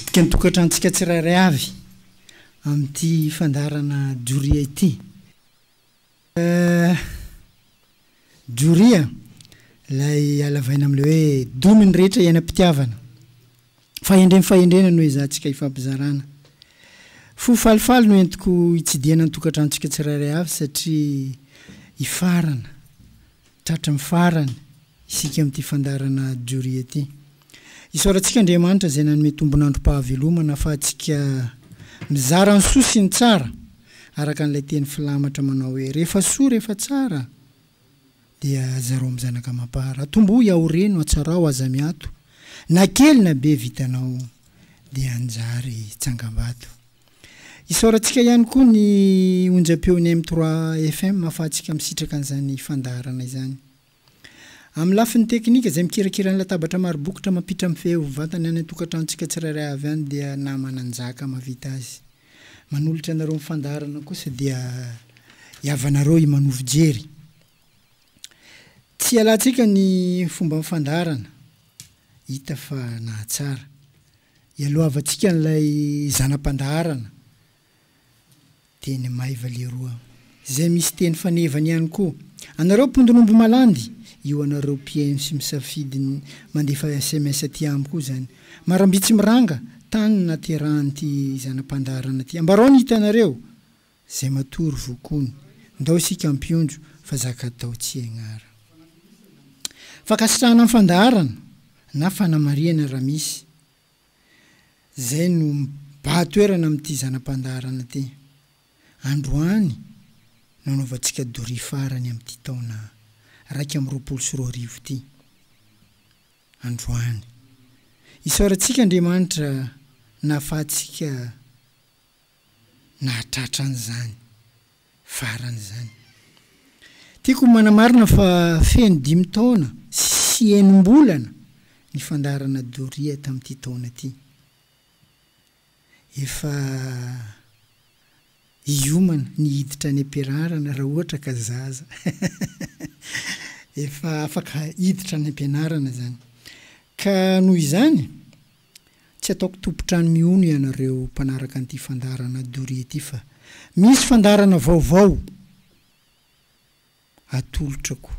Mitsidika ny tokantranontsika tsirairay avy amin'ity fandaharana doria ity. Doria, ilay halavaina amin'ilay hoe domy ny rehetra iainam-pitiavana. Fahendreny fahendrena no ezahantsika ifampizarana. Fo falifaly no entiko hitsidihana ny tokantranontsika tsirairay avy satria hifarana, tratry ny farany isika amin'ity fandaharana doria ity. Isaorantsika Andriamanitra izay nanome tombon'androm-pahavelomana afahantsika mizara ny soa sy ny tsara, araka an'ilay teny filamatra manao hoe, Rehefa soa, rehefa tsara, dia zarao amin'ny zanaka amam-para. Atombohy ao reno, atsarao, aza miato. Na kely na be vitanao dia hanjary tsangambato. Isaorantsika ihany koa ny onjam-peon'ny M3 FM afahantsika misitraka an'izany fandaharana izany. Amin'ny lafiny teknika, izay mikirakira ny latabatra maro bokotra mampiditra mifehy ho vantany any an-tokantranontsika tsirairay avy any dia naman'Anjaka mahavita azy. Manolotra anareo ny fandaharana kosa dia hiavanareo i Manovo Jery. Tsy hialantsika ny fomban'ny fandaharana, hita fa nahatsara. Hialohavantsika an'ilay zana-pandaharana. Teny maiva leroa. Zay misy teny fanevany ihany koa. Anareo mpondin'omby malandy, io anareo mpihaino sy misafidy ny mandefa sms aty amiko io zany. Maramby tsy miranga, tany naterahan'ity zana-pandaharana ty. Ambarao ny hitanareo. Zay matory vokony. Ndao isika ampionjo fa zaka-atao tsy egnara. Fankasitrahana ny fandaharana na fanamarihana raha misy. izay no mibaha toerana amin'ity zana-pandaharana ity. Androany no anaovantsika doria farany amin'ity taona iraika amby roapolo sy roa arivo ity. Androany. Isaorantsika Andriamanitra nahafahantsika nahatratra an'izany farany izany. Tiako manamarina fa feno dimy taona sy enim-bolana ny fandaharana doria tamin'ity taona ity. Efa hiomana ny hiditra any am-pianarana raha ohatra ka zaza efa afaka hiditra any am-pianarana izany. Ka noho izany, Tsy ataoko tompon-trano mihono ianareo mpanaraka an'ity fandaharana doria ity fa misy fandaharana vaovao atolotrako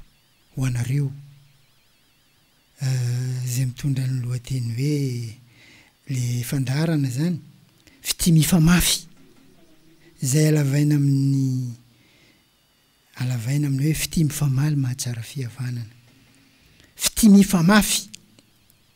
ho anareo izay mitondra ny lohateny hoe le fandaharana izany Fitia Mifamafy izay alavaina amin'ny alavaina amin'ny hoe Fitia Mifamaly Mahatsara Fihavanana Fitia Mifamafy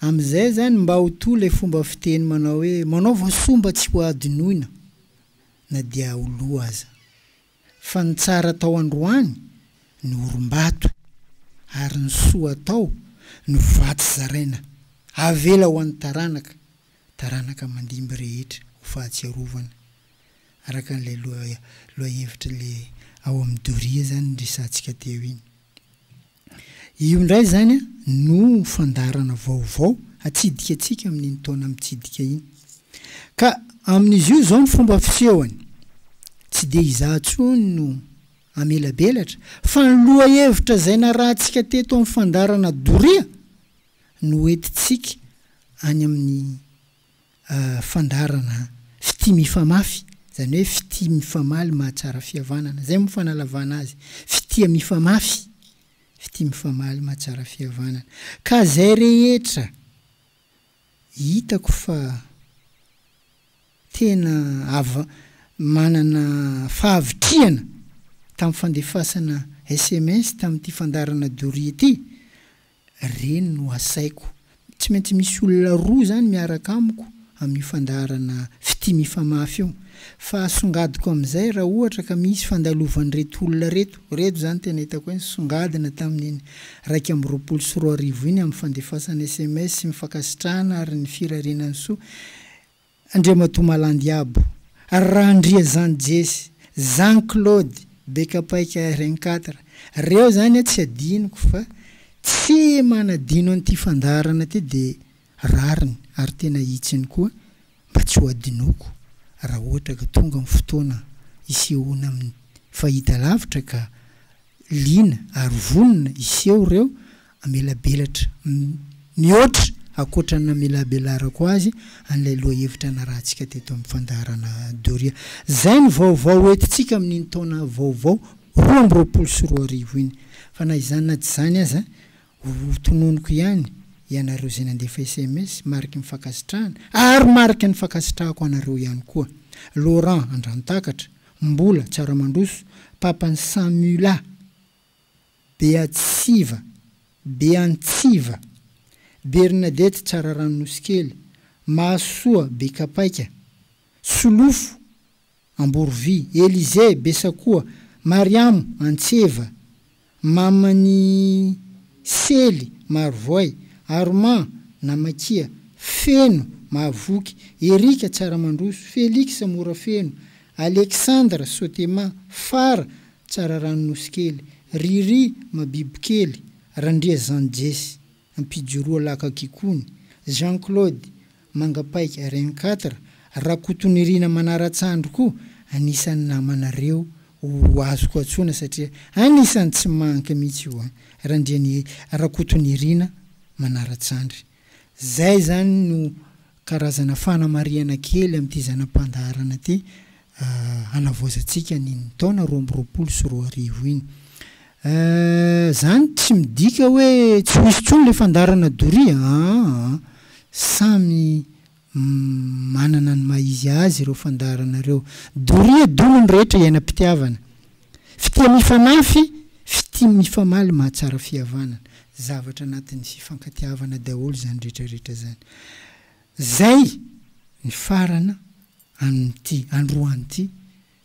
Amizay zany mba ho toa le fomba fiteny manao hoe manaova soa mba tsy ho adinoina na dia ho lo aza. Fa ny tsara atao androany no orim-bato ary ny soa atao no vatsy zaraina avela ho an'ny taranaka taranaka mandimby rehetra ho fahatsiarovana araka an'ilay lohahevitry le ao amin'ny doria zany niresahantsika teo iny. Io indray izany no fandaharana vaovao hatsidika antsika amin'iny taona mitsidika iny. Ka amin'izy io izao ny fomba fisehony, tsy dia izaho intsony no hamelabelatra fa ny lohahevitra izay narahantsika teto amin'ny fandaharana doria no hoentintsika any amin'ny fandaharana fitia mifamafy, izany hoe fitia mifamaly mahatsara fihavanana. Izay moa fanalavana azy. Fitia mifamafy, fitia mifamaly mahatsara fihavanana. Ka izay rehetra hitako fa tena ava, manana fahavitrihana tamin'ny fandefasana sms tamin'ity fandaharana doria ity, Ireny no asaiko. Tsy maintsy misy olona roa izany miaraka amiko amin'io fandaharana fitia mifamafy io. Fa asongadiko amin'izay raha ohatra ka misy fandalovan'ireto olona ireto, ireto izany tena hitako hoe nisongadina tamin'iny iraika amby roapolo sy roa arivo iny amin'ny fandefasana sms sy ny fankasitrahana ary ny firariana ny soa, Andriamatoa Malandiabo, Randriazany Jesse, Jean Claude, Bekapaika RN quatre, reo zany a tsy adinoko fa tsy manadino an'ity fandaharana ty de rariny ary tena hitsiny koa mba tsy ho adinoko raha ohatra ka tonga ny fotoana hisehoana amin'ny fahitalavitra ka liana ary vonona hiseho reo Amelabelatra. Mihoatra, ankoatra ny namelabelarako azy, an'ilay lohahevitra narahantsika teto amin'ny fandaharana doria. Izay ny vaovao ho entintsika amin'iny taona vaovao roa amby roapolo sy roa arivo iny. Fa na izany na tsy izany aza, ho tononiko ihany, ianareo izay nandefa sms, mariky ny fankasitrahana, ary mariky ny fankasitrahako anareo ihany koa. Laurent, Andrantakatra, Mbola, Tsiaramandroso, Papan'i Samula. Beatsiva, Beantsiva, Bernadette Tsararano Nosikely, Mahasoa Bekapaika, Solofo Amborovy, Elize Besakoa, Mariamo Antseva, Maman'i Sely Marovoay, Armand Namakia, Feno Mahavoky, Erika Tsaramandroso, Felix Morafeno, Alexandre Sotema, Fara Tsara rano nosy kely. Riri ma biby kely Randriazanjesy Ampijoroa Laka Kikony Jean Claude Manga Paika Reine Quatre Rakotonirina Manaratsandry koa anisan'ny namanareo ho azoko antsoina satria anisan'ny tsy manque mihitsy io an! Randrianihe Rakotonirina Manaratsandry. Izay izany no karazana fanamarihana kely amin'ity zana-pandaharana ity hanavaozantsika ny ny taona roa amby roapolo sy roa arivo iny. Izany tsy midika hoe tsy ho hisy intsony ilay fandaharana doria aa. Samy. Manana ny maha izy azy ireo fandaharana ireo. Doria dono ny rehetra iainam-pitiavana. Fitia mifanafy, fitia mifamaly mahatsara fihavanana. Zavatra anatin'ny fifankatiavana daholo izany rehetra rehetra izany. Izay nifarana amin'ity androany ity.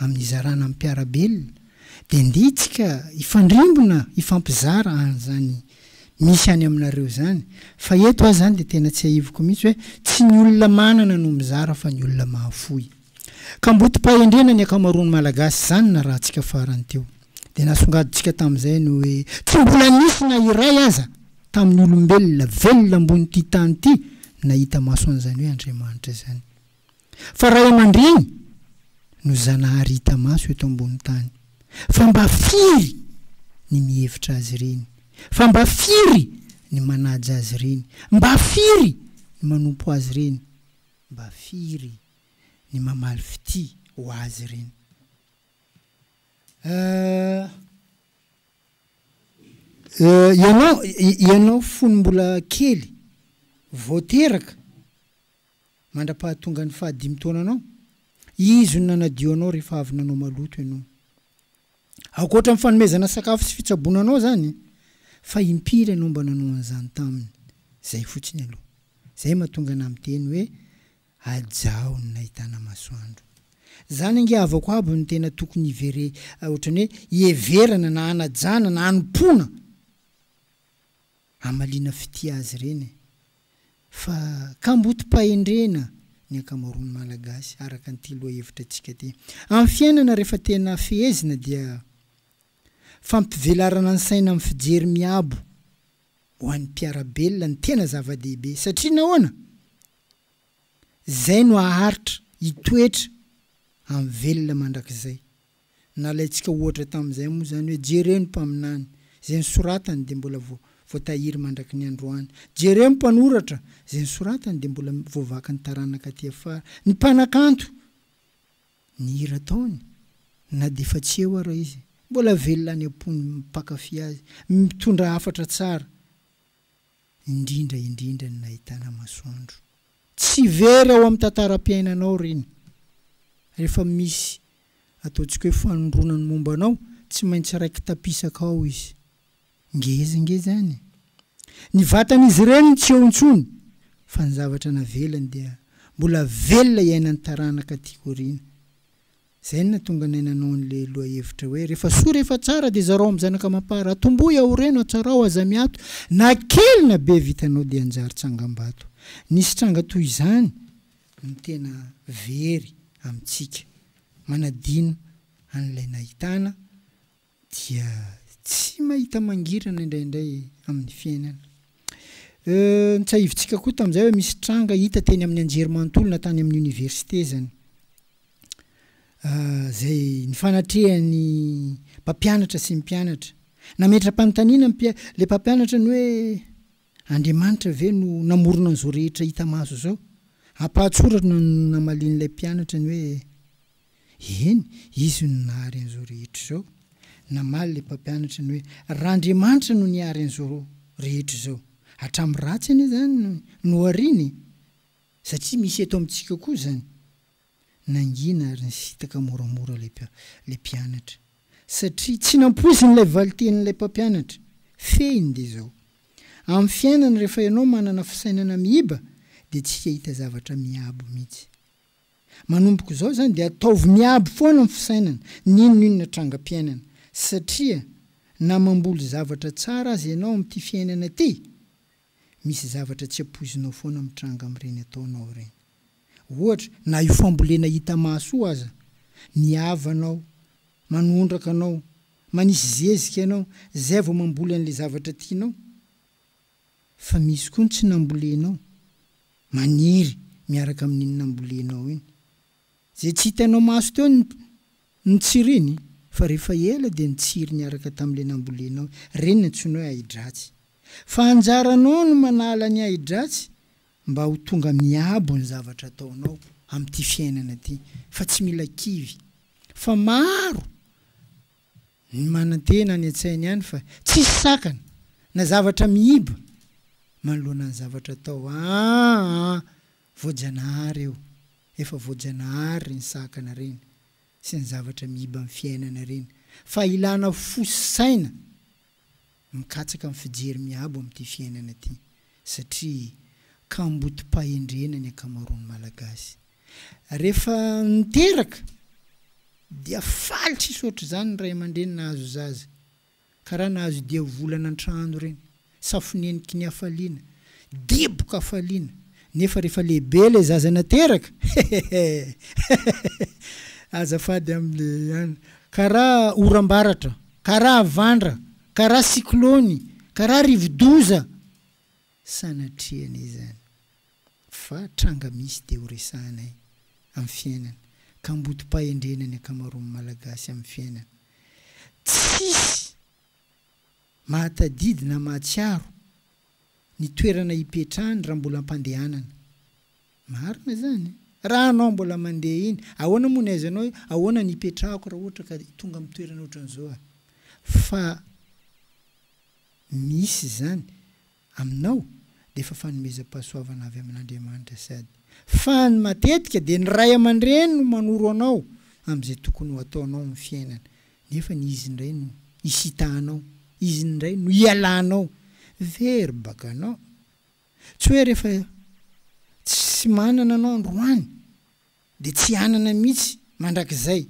amin'ny hizarana amin'ny mpiara-belona dia ndeha itsika hifandrimbona hifampizara an'izany misy any aminareo izany fa eto aho izany dia tena tsiahiviko mihitsy hoe tsy ny olona manana no mizara fa ny olona mahafoy kambotim-pahendrena ny ankamaroan'ny malagasy izany narahantsika farany teo dia nasongadintsika tamin'izay ny hoe tsy mbola nisy na iray aza tamin'ny olombelona velona ambon'ity tany ity nahita maso an'izany hoe Andriamanitra izany. Fa ray aman-dreny no Zanahary hita maso eto ambony tany. Fa mba firy ny mihevitra azy ireny? Fa mba firy ny manaja azy ireny? Mba firy ny manompo azy ireny? Mba firy ny mamaly fitia ho azy ireny? Euh. Euh, ianao, ianao fony mbola kely, vao teraka, mandra-pahatongan'ny fahadimy taonanao, Izy no nanadio anao rehefa avy nanao maloto ianao. Ankoatra ny fanomezana sakafo sy fitsaboana anao izany, fa impiry ianao mba nanao an'izany taminy? Izay fotsiny aloha. Izay mahatonga anà miteny hoe, Ajaho ny nahitana masoandro. Izany ange havako aby no tena tokony hivere, ohatran'ny hoe hiheverana na hanajana na hanompoana. Hamaliana fitia azy ireny e! Fa kambotim-pahendrena ny ankamaroan'ny Malagasy araka an'ity lohahevitra antsika ity. Amin'ny fiainana rehefa tena fehezina dia fampivelarana ny saina amin'ny fijery miabo ho an'ny mpiara-belona no tena zava-dehibe. Satria nahoana? Izay no haharitra hitoetra amin'ny velona mandrakizay. Nalaintsika ohatra tamin'izay moa izany hoe jereo ny mpaminany, izay nosoratany dia mbola voatahiry mandraky ny androany. Jereo ny mpanoratra, izay nosoratany dia mbola voavakin'ny taranaka aty afara. Ny mpanakanto, ny hira ataony, na dia efa tsy eo ara izy, mbola velona any am-pon'ny mpankafy azy, mitondra hafatra tsara. indrindra indrindra ny nahitana masoandro. Tsy very ao amin'ny tantaram-piainanao ireny. Rehefa misy ataontsika hoe fanondroana ny momba anao, tsy maintsy raiki-tapisaka ao izy. Ngeza ngeza any. Ny vatan'izy ireny no tsy eo intsony, fa ny zavatra navelany dia mbola velona iainan'ny taranaka aty aoriana. Izay no nahatonga anay nanao an'ilay lohahevitra hoe, Rehefa soa, rehefa tsara, dia zarao amin'ny zanaka amam-para. Atombohy, aoreno, atsarao, aza miato. Na kely na be vitanao dia hanjary tsangambato. Nisy tranga toy izany no tena very amintsika. Manadino an'ilay nahitana. dia tsy mahita mangirana indraindray amin'ny fiainana. Euh, notsahivintsika koa tamin'izay hoe misy tranga hita teny amin'ny anjerimanontolo na tany amin'ny oniversite zany. Ah, zay nifanatrehan'ny mpampianatra sy ny mpianatra. Nametra-panontaniana ny mpia- le mpampianatra ny hoe, Andriamanitra ve no namorona an'izao rehetra hita maso izao? Ampahan-tsoratra no namalian'ilay mpianatra ny hoe, Eny, Izy no nahary an'izao rehetra izao. Namaly ilay mpampianatra ny hoe, Raha Andriamanitra no nihary an'izao rehetra izao, hatramin'ny ratsy anie izany no hariany e! Satria misy eto amintsika koa izany. Nangina ary nisintaka moramora ilay mpianatra, satria tsy nampoiziny ilay valintenin'ilay mpampianatra. Fehiny dia izao, Amin'ny fiainana, rehefa ianao manana fisainana miiba, dia tsy hahita zavatra miabo mihitsy. Manomboka izao izany, dia ataovy miabo foana ny fisainana, na inon'inona trangam-piainana, satria na mamboly zavatra tsara aza ianao amin'ity fiainana ity, misy zavatra tsy ampoizinao foana mitranga amin'ireny ataonao ireny. Ohatra, na io fambolena hita maso io aza, ny havanao, manondraka anao, manisy zezika ianao, izay vao mamboly an'ilay zavatra tianao. Fa misy koa ny tsy nambolenao, maniry miaraka amin'iny nambolenao iny. Izay tsy hitanao maso teo ny Ny tsiriny? Fa rehefa ela dia nitsiry niaraka tamin'ilay nambolenao. Ireny no antsoina hoe ahi-dratsy. Fa anjaranao no manala ny ahi-dratsy mba ho tonga miabo ny zavatra ataonao amin'ity fiainana ity. Fa tsy mila kivy. Fa maro ny manantena any an-tsainy any fa tsisy sakana na zavatra mihiba manoloana ny zavatra atao. Aa! Voajanahary eo, efa voajanahary ireny sakana ireny sy ny zavatra miiba ny fiainana ireny fa ilana fo sy saina mikatsaka ny fijery miabo amin'ity fiainana ity satria kambotim-pahendrena ny ankamaroan'ny Malagasy rehefa niteraka dia faly tsisy ohatr'izany ny ray aman-dreny nahazo zaza Ka raha nahazo diavolana an-trano ireny, safoneniky ny hafaliana, diboka hafaliana, nefa rehefa lehibe ilay zaza nateraka, hehehehehehehe, azafady aminy an, ka raha oram-baratra, ka raha havandra, ka raha siklony, ka raha rivodoza, sanatriany izany. fa tranga misy dia ho resahanay amin'ny fiainana kambodim-pahendrena ny ankamaroan'ny Malagasy amin'ny fiainana. Tsisy mahatadidy na mahatsiaro ny toerana hipetrahany raha mbola am-pandehanana. Marina izany. Raha anao mbola mandeha iny, ahoana moa ny aizanao hoe ahoana ny hipetrahako raha ohatra ka tonga amin'ny toerana ohatran'izao aho? Fa misy izany Aminao dia efa fanomezam-pahasoavana avy amin'Andriamanitra sady. Fa ny matetika dia ny ray aman-dreny no manoro anao amin'izay tokony ho ataonao amin'ny fiainana nefa ny izy indray no isitahanao, izy indray no ialanao very baka anao. Tsy hoe rehefa tsy manana anao androany. de tsy hanana mihitsy mandrakizay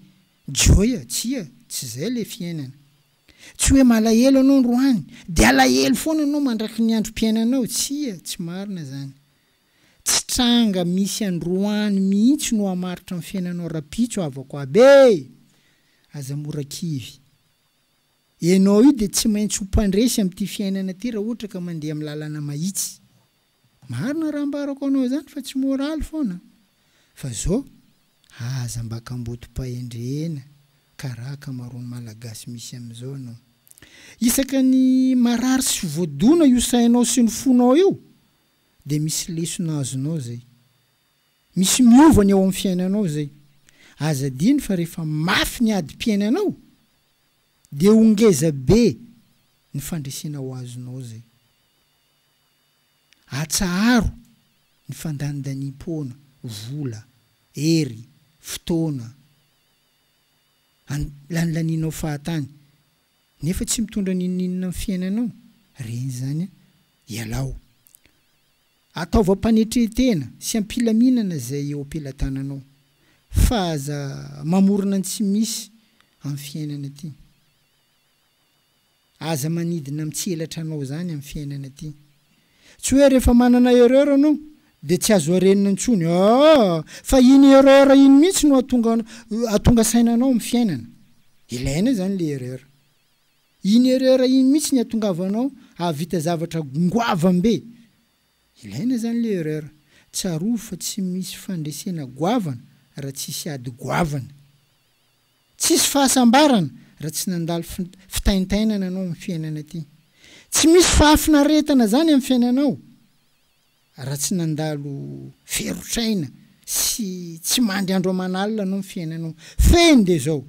joy a! tsia tsy zay le fiainana tsy hoe malahelo anao ndroany de alahelo foana anao mandraky ny androm-piainanao tsia tsy marina zany tsy tranga misy androany mihitsy no hamaritra ny fiainanao rapitso havako aby e! aza mora kivy enao io de tsy maintsy ho mpandresy amty fiainana ty raha ohatra ka mandeha am lalana mahitsy. Marina raha ambarako anao izany fa tsy moraly foana fa zao aza mba kambotom-pahendrena karaha akamaroan'ny malagasy misy amin'izao ianao. Isaka ny marary sy voadona io sainao sy ny fonao io dia misy lesona azonao izay. Misy miova ny ao amin'ny fiainanao izay. Aza adino fa rehefa mafy ny adim-piainanao dia ho ngeza be ny fandresena ho azonao izay. Atsaharo ny fandanindaniam-poana, vola, hery, fotoana lanilaninao fahatany nefa tsy mitondra n'inon'inona amin'ny fiainanao. Reny izany an! Ialao. Ataovy am-panetrentena sy am-pilaminana izay eo am-pelatananao fa aza mamorona ny tsy misy amin'ny fiainana ity. Aza manidina amin'ny tsy elatra anao izany amin'ny fiainana ity. Tsy hoe rehefa manana erreur anao dia tsy azo arenina intsony aa fa iny erreur iny mihitsy no atonga atonga saina anao amin'ny fiainana. Ilaina izany ilay erreur. Iny erreur iny mihitsy ny atongavanao hahavita zavatra goavambe. Ilaina izany ilay erreur. Tsarovy fa tsy misy fandresena goavana raha tsisy ady goavana. Tsisy fahasambarana raha tsy nandalo fitaintainana anao amin'ny fiainana ity. Tsy misy fahafinaretana izany amin'ny fiainanao raha tsy nandalo ferotr'aina sy tsy mandry andro aman'alina anao ny fiainanao. Fehiny dia izao,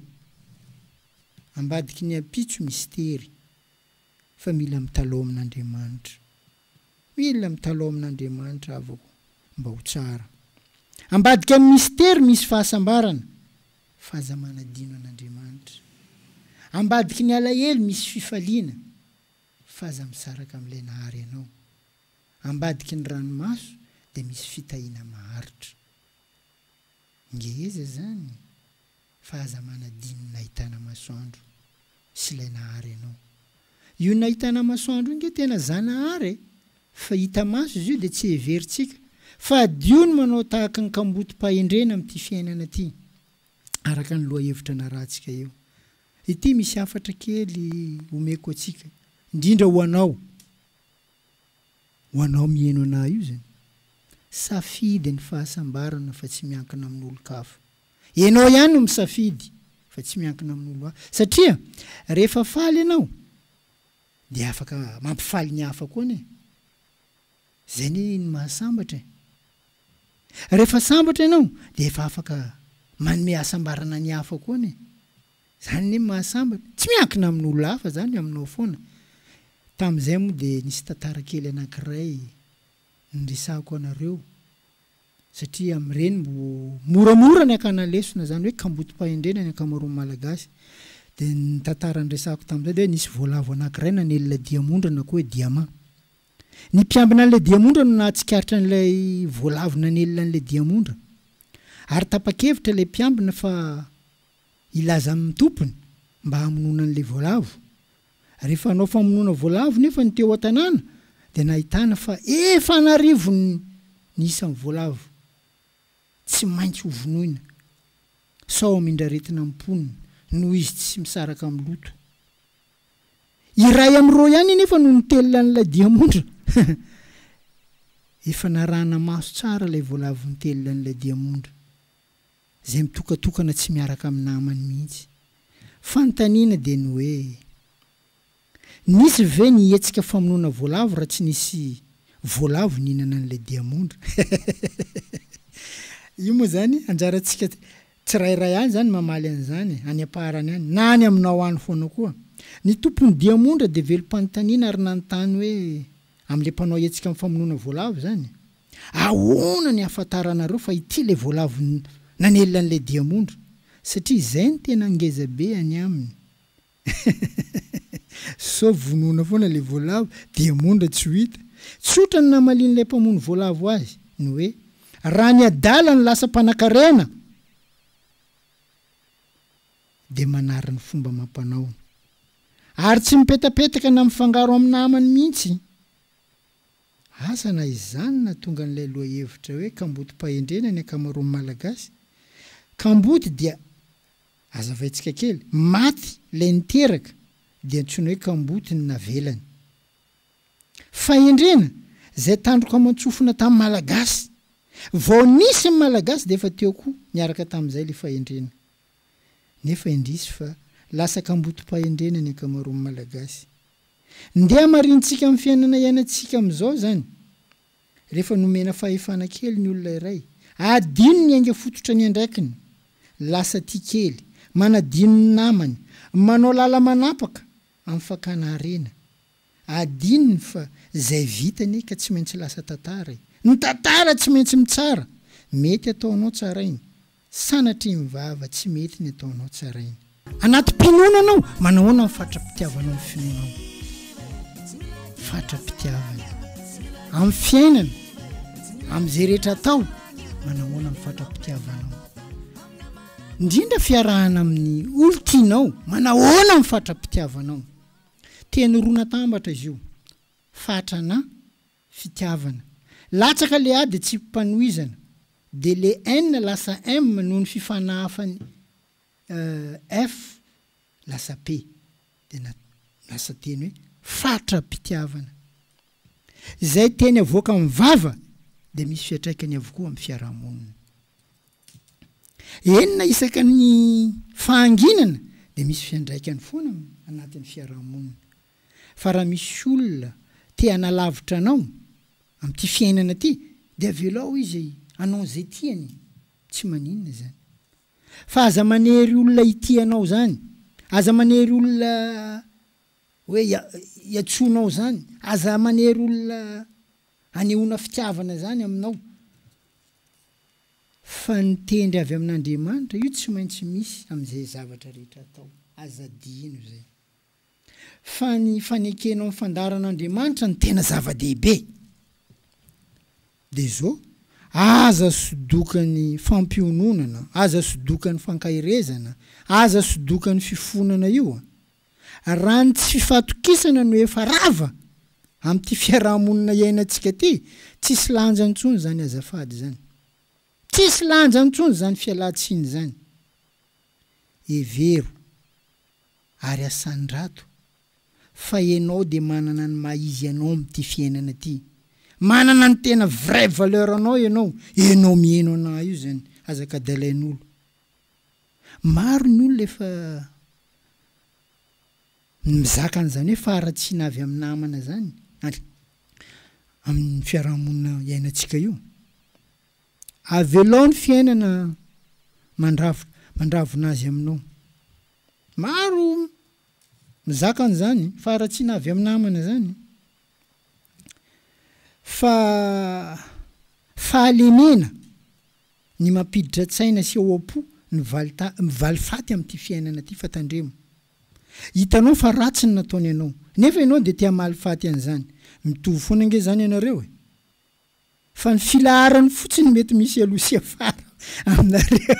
ambadiky ny ampitso misy tery fa mila mitalaho amin'Andriamanitra. Mila mitalaho amin'Andriamanitra avoko mba ho tsara. Ambadika ny mistery misy fahasambarana fa aza manadino an'Andriamanitra. Ambadiky ny alahelo misy fifaliana fa aza misaraka amin'ilay nahary anao. Ambadiky ny ranomaso dia misy fitahiana maharitra. Ngeza izany? fa aza manadino ny nahitana masoandro sy ilay nahary anao. Io nahitana masoandro io nge tena Zanahary e! fa hita maso izy io dia tsy heverintsika fa adio ny manao tahaka ny kambotim-pahendrena amin'ity fiainana ity araka ny lohahevitra narahantsika eo. Ity misy hafatra kely omeko antsika indrindra ho anao, ho anao miheno anah io zany, safidy ny fahasambarana fa tsy miankina amin'olon-kafa. Ianao ihany no misafidy fa tsy miankina amin'olo hafa. Satria rehefa faly ianao dia afaka mampifaly ny hafa koa anie. Izay anie ny mahasambatra e. Rehefa sambatra ianao dia efa afaka manome hasambarana ny hafa koa anie. Izany anie ny mahasambatra. Tsy miankina amin'olo hafa izany, aminao foana. Tamin'izay moa dia nisy tantara kely anankiray niresahako anareo. satria amin'ireny mbo moramora ny hakana lesona izany hoe kambotim-pahendrena ny ankamaroan'ny Malagasy. Dia ny tantara niresahako tamin'izay dia hoe nisy voalavo anankiray nanely ilay diamondra na koa hoe diamant. Ny mpiambina an'ilay diamondra no nahatsikaritra an'ilay voalavo nanely an'ilay diamondra. Ary tapa-kevitra ilay mpiambina fa hilaza amin'ny tompony mba hamonoana an'ilay voalavo. Rehefa hanao famonoana voalavo nefa ny teo an-tanàna dia nahitana fa efa an'arivony ny isan'ny voalavo tsy maintsy hovonoina sao hamindra aretina amin'ny mponina noho izy tsy misaraka amin'ny loto. Iray amin'ireo ihany anefa no nitelina an'ilay diamondra. Efa narahana maso tsara ilay voalavo nitelina an'ilay diamondra. izay mitokatokana tsy miaraka amin'ny namany mihitsy. Fanontaniana dia ny hoe, nisy ve ny hetsika famonoana voalavo raha tsy nisy voalavo nihinana an'ilay diamondra? Io moa izany anjarantsika tsirairay any izany mamaly an'izany, any am-paharany any, na any aminao any foana koa. Ny tompon'ny diamondra dia velom-panontaniana ary nanontany hoe, amin'ilay mpanao hetsika amin'ny famonoana voalavo izany? Ahoana ny ahafantaranareo fa ity ilay voalavo nanelina an'ilay diamondra? Satria izay no tena ngeza be any aminy. Sao vonoina foana ilay voalavo, diamondra tsy ho hita? Tsotra ny namalian'ilay mpamono voalavo azy, ny hoe, raha ny adala no lasa mpanakarena, dia manary ny fomba amam-panaony. Ary tsy mipetapetaka na mifangaro amin'ny namany mihitsy. Asa na izany nahatonga an'ilay lohahevitra hoe kambodim-pahendrena ny ankamaroan'ny Malagasy. Kamboty dia, azavaintsika kely, maty ilay niteraka dia antsoina hoe kamboty ny navelany. Fahendrena, izay tandroka aman-tsofina tamin'ny Malagasy. Vao nisy ny Malagasy dia efa teo koa niaraka tamin'izay ilay fahendrena. Nefa indrisy fa lasa kambodim-pahendrena ny ankamaroan'ny Malagasy. Ndeha hamarinintsika amin'ny fiainana iainantsika amin'izao izany. Rehefa nomena fahefana kely ny olona iray, adino ny ainga fototra niandraikiny, lasa tia kely, manadino ny namany, manao lala manapaka amin'ny fakana harena. Adinony fa izay vita anie ka tsy maintsy lasa tantara e! Ny tantara tsy maintsy mitsara! Mety ataonao tsarainy. Sanatria mivava tsy mety ny ataonao tsaraina. Anaty mpinono anao, manahoana ny fatra-pitiavanao ny finoanao? Fatra-pitiavana. Amin'ny fiainana, amin'izay rehetra atao, manahoana ny fatra-pitiavanao? Indrindra fiarahana amin'ny olon-tianao, manahoana ny fatra-pitiavanao? Teny roa natambatra izy io, fatra na. fitiavana. Latsaka le A de tsipim-panohizana. De le N lasa M noho ny fifanahafany euh F lasa P. De na lasa teny hoe fatra-pitiavana. Izay teny avoaka amin'ny vava dia misy fiatraikany avokoa amin'ny fiaraha-monina. Enina isaka ny fahanginana dia misy fiandraikany foana anatin'ny fiaraha-monina. fa raha misy olona te hanalavitra anao amin'ity fiainana ity dia avelao izy hanao izay tiany tsy maninona izany fa aza manery olona hitia anao izany aza manery olona hoe hiantsoanao izany aza manery olona hanehoana fitiavana izany aminao fa ny tendry avy amin'Andriamanitra io tsy maintsy misy amin'izay zavatra rehetra atao aza adino izay fa ny fanekenao ny fandaharan'Andriamanitra no tena zava-dehibe. Dia izao, aza sodokan'ny fampiononana, aza sodokan'ny fankaherezana, aza sodokan'ny fifonana io. Raha ny tsy fifatokisana no efa rava amin'ity fiaraha-monina iainantsika ity, tsisy lanja intsony izany azafady izany. Tsisy lanja intsony izany fialan-tsiny izany. Hevero. ary asandrato fa enao de manana ny maha izy anao amty fiainana ty manana ny tena vrai valeur anao enao enao mieno anah io zany aza ka dalainolo maro ny olona efa mizaka anzany hoe faharatsiana avy am namana zany ary am fiarahamonina iainatsika io avelao ny fiainana mandrafitra mandravona azy aminao. Maro mizaka an'izany faharatsiana avy amin'ny namana izany fa fahalemena ny mampiditra tsaina sy ao am-po ny valifaty amin'ity fiainana ity fa tandremo. Hitanao fa ratsy ny nataony anao nefa ianao dia te-hamaly faty an'izany. Mitovy foana ange izany ianareo e! Fa ny filaharany fotsiny no mety misy aloha sy afara aminareo.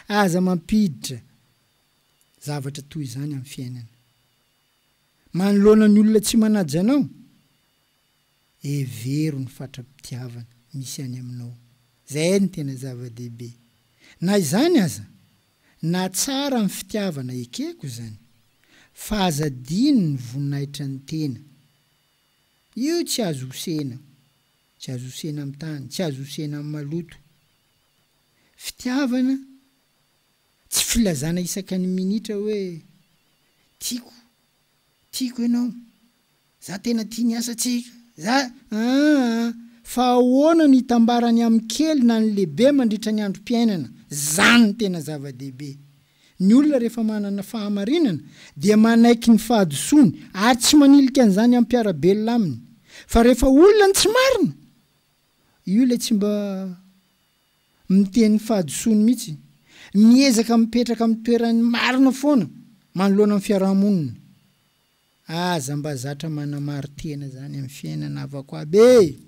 Aza mampiditra zavatra toy izany amin'ny fiainana. Manoloana ny olona tsy manaja anao, hevero ny fatra-pitiavana misy any aminao. Izay no tena zava-dehibe. Na izany aza, nahatsara amin'ny fitiavana ekeko izany, fa aza adino ny voninahitran'ny tena. Io tsy azo hosena. Tsy azo hosena amin'ny tany, tsy azo hosena amin'ny maloto. Fitiavana tsy filazana isaka ny minitra hoe tiako, tiako ianao, za tena tia ny asa tsika, za aa. Fa ahoana no hitambarany amin'ny kely na ny lehibe mandritra ny androm-piainana? Zany ny tena zava-dehibe. Ny olona rehefa manana fahamarinana dia manaiky ny fahadisoany ary tsy manilika an'izany hampiara-belona aminy. Fa rehefa olona ny tsy marina, io ilay tsy mba miteny ny fahadisoany mihitsy. Miezaka mipetraka amin'ny toeran'ny marina foana manoloana ny fiaraha-monina. Aza mba zatra manamaro tena zany amin'ny fiainana havako aby e!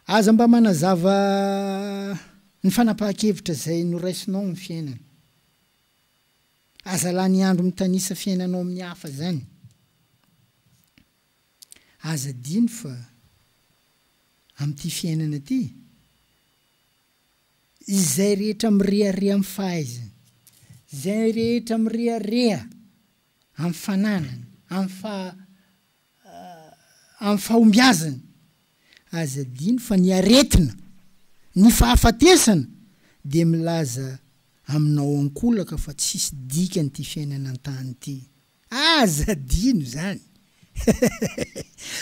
Aza mba manazava ny fanapahan-kevitra izay noraisinao amin'ny fiainana. Aza lany andro mitanisa fiainanao amin'ny hafa zany. Aza adino fa amin'ity fiainana ity Izay rehetra mirehareha amin'ny fahaizany, izay rehetra mirehareha amin'ny fananany, amin'ny faha, amin'ny fahombiazany, aza adino fa ny aretina, ny fahafatesana, dia milaza aminao ankolaka fa tsisy dikany ity fiainana an-tany ity. Aza adino zany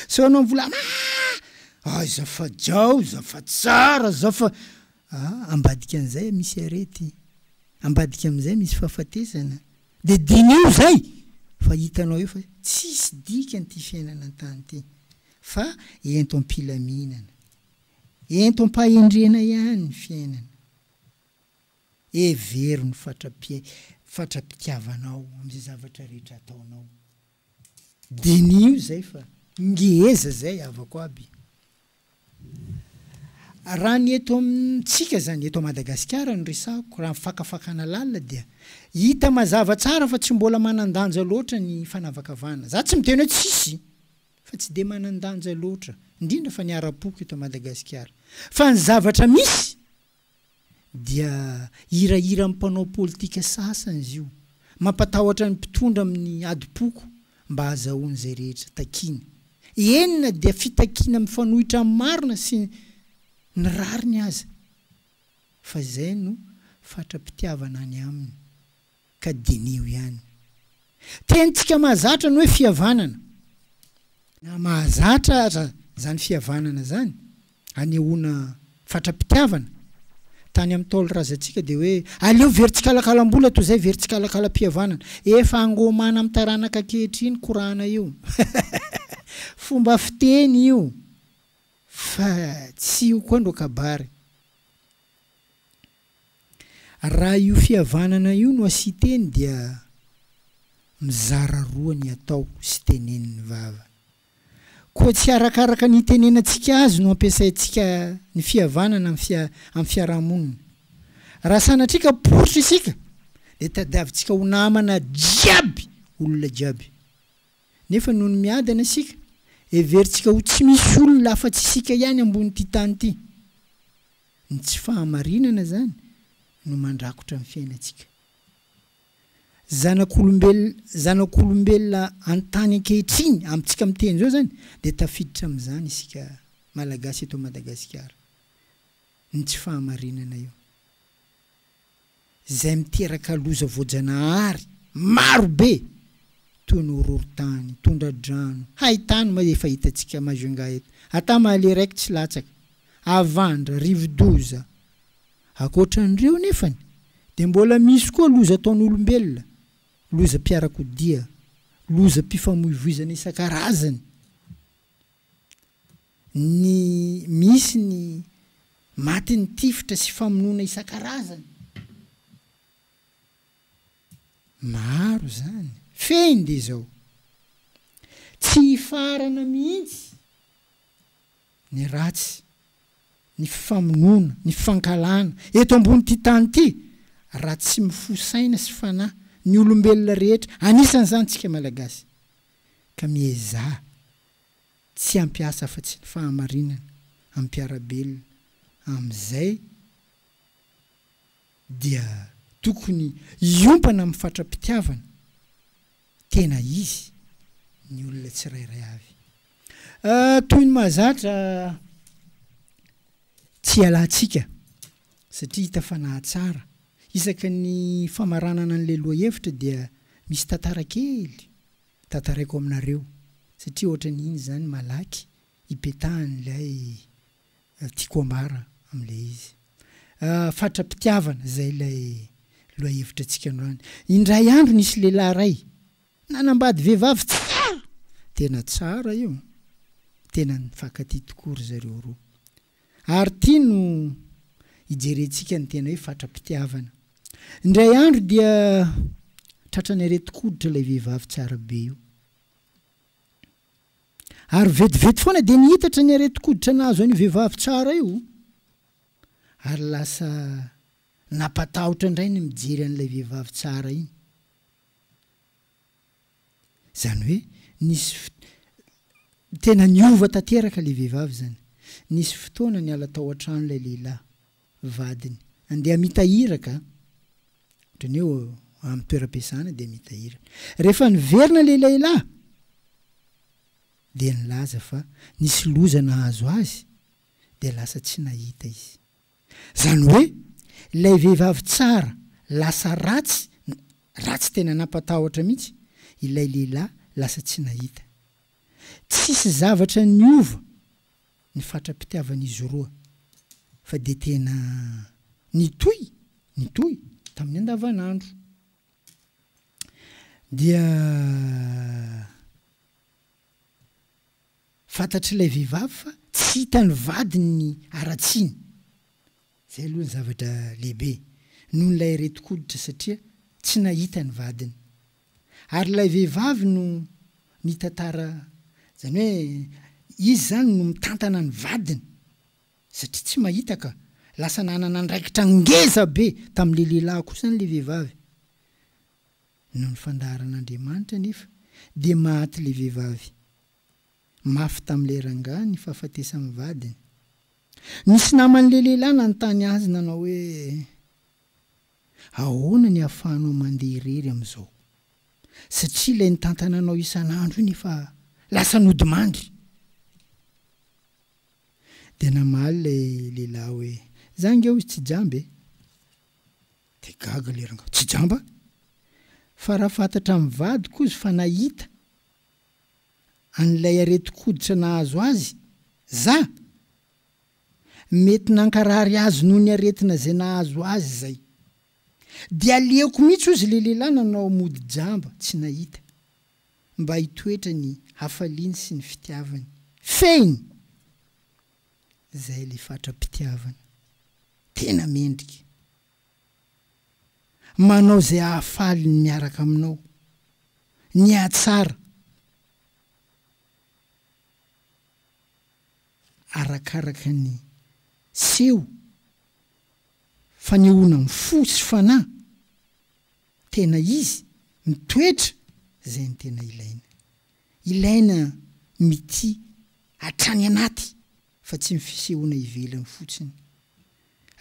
sao anao mvola aah aza fa jao za fa tsara za fa ah ambadika an'izay misy arety ambadika amin'izay misy fahafatesana de diniho zay fa hitanao eo fa tsisy dikany ty fiainana an-tany ty fa ento am-pilaminana ento am-pahendrena ihany ny fiainana. Hevero ny fatra-pitiavanao amin'izay zavatra rehetra ataonao. Diniho izay fa ngeza izay havako aby. Raha ny eto amintsika izany, eto Madagasikara no resahako, raha ny fakafakana lalina dia hita mazava tsara fa tsy mbola manan-danja loatra ny fanavakavahana. Za tsy miteny hoe tsisy fa tsy dia manan-danja loatra, indrindra fa ny ara-poko eto Madagasikara. Fa ny zavatra misy dia hirahiran'ny mpanao politika sasany izy io. Mampatahotra ny mpitondra amin'ny adim-poko mba hahazahoany izay rehetra takiany. Eny na dia fitakiana mifanohitra amin'ny marina sy ny rariny aza. Fa izay no fatra-pitiavana any aminy. ka diniho ihany. Tenitsika mahazatra ny hoe fihavanana. Na mahazatra aza izany fihavanana izany, anehoana fatra-pitiavana, tany amin'ny Ntaolo razantsika dia hoe, aleo very tsikalakalam-bola toy izay very tsikalakalam-pihavanana. Efa angomana amin'ny taranaka ankehitriny korana io. Fomba fiteny io fa tsy io koa ndro kabary. Raha io fihavanana io no asiteny dia mizara roa ny atao sy tenenin'ny vava. Koa tsy arakaraka ny itenenantsika azy no ampiasaintsika ny fihavanana amin'ny fiarahamonina. Raha sanatria ka poritra isika dia tadiavintsika ho namana jiaby olona jiaby. Nefa noho ny miadana isika, heverintsika ho tsy misy olona afa-tsy isika ihany ambonin'ity tany ity. Ny tsy fahamarinana izany no mandrakotra ny fiainantsika. Zanak'olombelona zanak'olombelona an-tany ankehitriny, amintsika miteny izao izany, dia tafiditra amin'izany isika Malagasy eto Madagasikara. Ny tsy fahamarinana io. izay miteraka loza voajanahary maro be toy ny horohorontany, tondra-drano, haitany moa efa hitantsika Majunga eto, ata Mahaleo raiky tsy latsaka, havandra, rivodoza. Ankoatra an'ireo anefany dia mbola misy koa loza ataon'olombelona, lozam-piarakodia, lozam-pifamoivoizana isan-karazany. ny misy ny matin'ny tifitra sy famonoana isan-karazany. Maro izany. Fehiny dia izao, tsy hifarana mihitsy ny ratsy, ny famonoana, ny fankahalana, eto ambonin'ity tany ity, raha tsy mifoha saina sy fanahy ny olombelona rehetra, anisan'izany isika Malagasy, ka miezaha. Tsy hampiasa afa-tsy ny fahamarinana amim-piarabelona amin'izay dia tokony hiompana amin'ny fatra-pitiavana tena izy ny olona tsirairay avy. Toy ny mahazatra tsy hialantsika satria hita fa nahatsara. Isaky ny famaranana an'ilay lohahevitra dia misy tantara kely Tantaraiko aminareo satria ohatrany iny zany malaky ipetahan'ilay tiako ambara amin'ilay izy. Fatra-pitiavana, zay ilay lohahevitra antsika androany. Indray andro nisy lehilahy ray nanambady vehivavy tsara! Tena tsara io, tena nifankatia tokoa ry zareo roa. Ary ity no hijerentsika ny tena hoe fatra-pitiavana. Indray andro dia tratran'ny aretin-koditra ilay vehivavy tsara be io. Ary vetivety foana dia niitatra ny aretin-koditra nahazo an'io vehivavy tsara io. Ary lasa nampatahotra indray ny mijery an'ilay vehivavy tsara iny. Izany hoe nisy tena niova tanteraka ilay vehivavy izany. Nisy fotoana niala tao an-trano ilay lehilahy, vadiny, handeha mitahiraka, ohatran'ny hoe amin'ny toeram-piasana dia mitahiraka. Rehefa niverina ilay lehilahy dia nilaza fa nisy loza nahazo azy dia lasa tsy nahita izy. Izany hoe, ilay vehivavy tsara lasa ratsy na ratsy tena nampatahotra mihitsy, ilay lehilahy lasa tsy nahita. Tsisy zavatra niova ny fatra-pitiavan'izy roa fa dia tena nitohy nitohy tamin'ny andavanandro. Dia Fantatr'ilay vehivavy fa tsy hitan'ny vadiny ny haratsiany. Izay aloha ny zavatra lehibe, noho ilay aretin-koditra satria tsy nahita ny vadiny. Ary ilay vehivavy no mitantara, izany hoe izy izany no mitantana ny vadiny satria tsy mahita ka. Lasa nanana andraikitra ngeza be tamin'ilay lehilahy koa izany ilay vehivavy. Noho ny fandaharan'Andriamanitra anefa dia maty ilay vehivavy. Mafy tamin'ilay rangahy ny fahafatesan'ny vadiny. Nisy naman'ilay lehilahy nanontany azy nanao hoe, Ahoana ny ahafahanao mandeha irery amin'izao? Satria ilay nitantana anao isan'andro iny efa lasa nodimandry. Dia namaly ilay lehilahy hoe, Izaho ange hoy tsy jamba e. Dia gaga ilay rangahy, tsy jamba? Fa raha fantatra amin'ny vadiko izy fa nahita an'ilay aretin-koditra nahazo azy za, mety nankarary azy noho ny aretina izay nahazo azy izay. Dia aleoko mihitsy hozy ilay lehilahy nanao mody jamba tsy nahita, mba hitoetra ny hafaliany sy ny fitiavany. Fehiny! Zay le fatra-pitiavana tena mendrika. Manao zay ahafaly ny miaraka aminao, ny hatsara arakaraka ny seho, fanehoana ny fo sy fanahy tena izy, mitoetra zay ny tena ilaina. Ilaina mitia hatrany anaty fa tsy ny fisehoana ivelany fotsiny.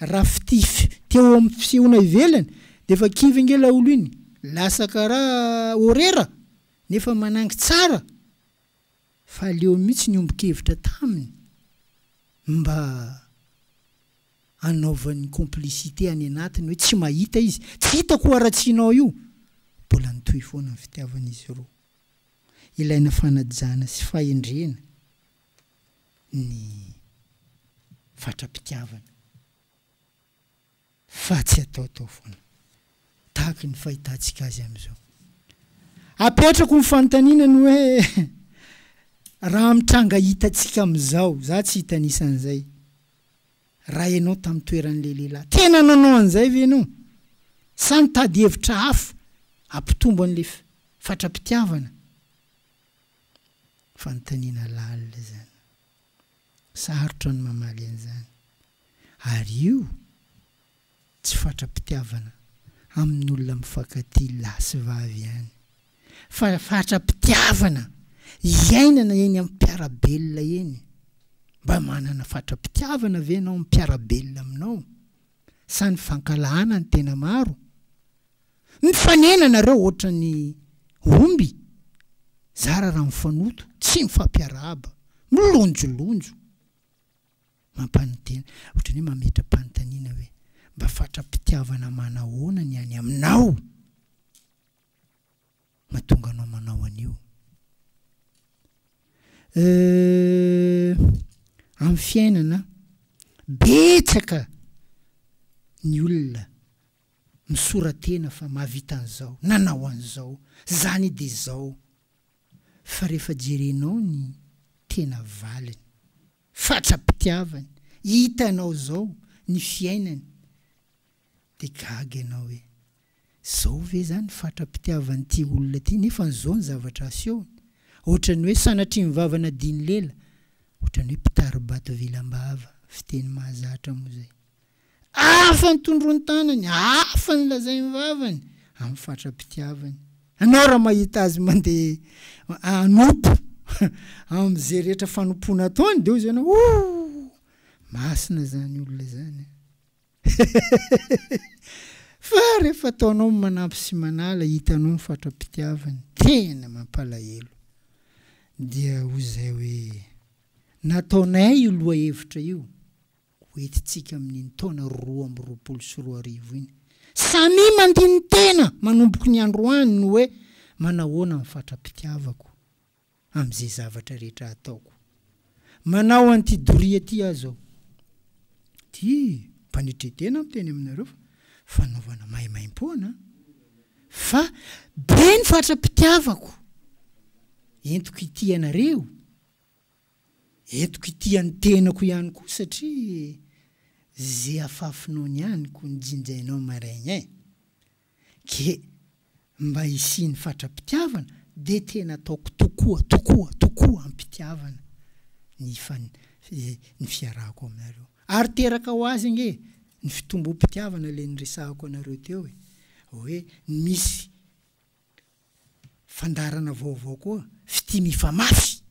Raha fitia teo amin'ny fisehoana ivelany dia efa kivy ange laolo iny, lasa karaha horera nefa manangy tsara fa aleo mihitsy niombon-kevitra taminy mba hanaovany complicité any anatiny hoe tsy mahita izy, tsy hitako hoharatsianao io, mbola nitohy foana ny fitiavana izy roa. ilaina fanajana sy fahendrena ny fatra-pitiavana fa tsy ataotao foana tahaka ny fahitantsika azy amin'izao. Apetrako ny fanontaniana ny hoe raha amin'ny tranga hitantsika amin'izao, za tsy hitanisa an'izay, Raha ianao tamin'ny toeran'ilay lehilahy, tena nanao an'izay ve ianao? Sa nitady hevitra hafa hampitombo an'ilay fatra-pitiavana? Fanontaniana lalina izany. Sarotra ny mamaly an'izany. Ary io Tsy fatra-pitiavana amin'ny olona mifankatia lahy sy vavy ihany, fa fatra-pitiavana iainana eny amin'ny mpiara-belona eny. Mba manana fatra-pitiavana ve ianao amin'ny mpiara-belona aminao? Sa ny fankahalana no tena maro? Mifanena ianareo ohatran'ny omby zara raha mifanoto, tsy mifampiarahaba, milonjolonjo. Mampanontena, ohatran'ny hoe mametra-panontaniana hoe, Mba fatra-pitiavana manahoana ny any aminao mahatonga anao manao an'io? Euh, amin'ny fiainana, betsaka ny olona misora-tena fa mahavita an'izao, nanao an'izao, zany dia zao. Fa rehefa jerenao ny tena valiny, Fatra-pitiavany, hitanao zao ny fiainany de gaga ianao hoe zao ve zany ny fatra-pitiavan'ity olona ty nefa zao ny zavatra asehony, ohatrany hoe sanatria ny vava nadian'i lela, ohatrany hoe mpitari-bato vilam-bava, fiteny mahazatra moa zay. Hafa ny tondroan-tanany, hafa ny lazain'ny vavany, amin'ny fatra-pitiavany. Ianao raha mahita azy mandeha hanompo amin'izay rehetra fanompoana ataony, dia hoy ianao, Ooh! Masina izany olona izany. Fa rehefa ataonao ny manampy sy manala, hitanao ny fatra-pitiavany, tena mampalahelo. Dia hoy izay hoe, Nataonay io lohahevitra io. ho entintsika amin'iny taona roa amby roapolo sy roa arivo iny. Samia mandini-tena manomboky ny androany ny hoe manahoana ny fatra-pitiavako amin'izay zavatra rehetra ataoko. Manao an'ity doria ity aho izao. Ity mpanetren-tena aho miteny aminareo fa fanaovana maimaimpoana fa be ny fatra-pitiavako entiko hitia anareo. Entiko ity an'ny tenako ihany koa satria ze afafinao ny aniko ny jinjainao marin eh! Ke mba hisian'ny fatra-pitiavana de tena ataoko tokoa tokoa tokoa am-pitiavana ny ny fiarahako aminareo. Ary teraka ho azy ange ny fitombom-pitiavana le niresahako anareo teo e! Hoe misy Fandaharana vaovao koa, fitia mifamafy,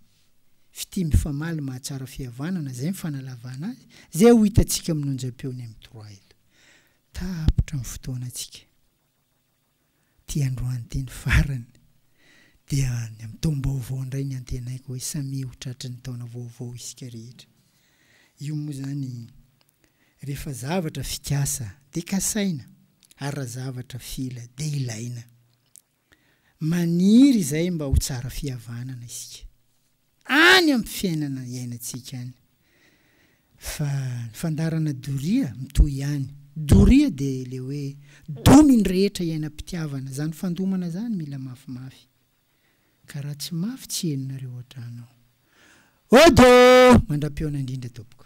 fitia mifamaly mahatsara fihavanana, izay ny fanalavana azy, izay ho hitantsika amin'ny onjam-peony amin'ny trois eto. Tapitra ny fotoanantsika. Ity androany ity ny farany. Dia any amin'ny taom-baovao indray ny antenaiko hoe samia ho tratry ny taona vaovao isika rehetra. Io moa izany Rehefa zavatra fikasa dia kasaina ary raha zavatra fila dia ilaina. Maniry izay mba ho tsara fihavanana isika any amin'ny fiainana iainantsika any fa ny fandaharana doria mitohy ihany. Doria dia ilay hoe domy ny rehetra iainam-pitiavana, izany fandomana izany mila mafimafy ka raha tsy mafy tsy henonareo hatrany ao. Odo! Mandram-pihaona indrindra tompoko.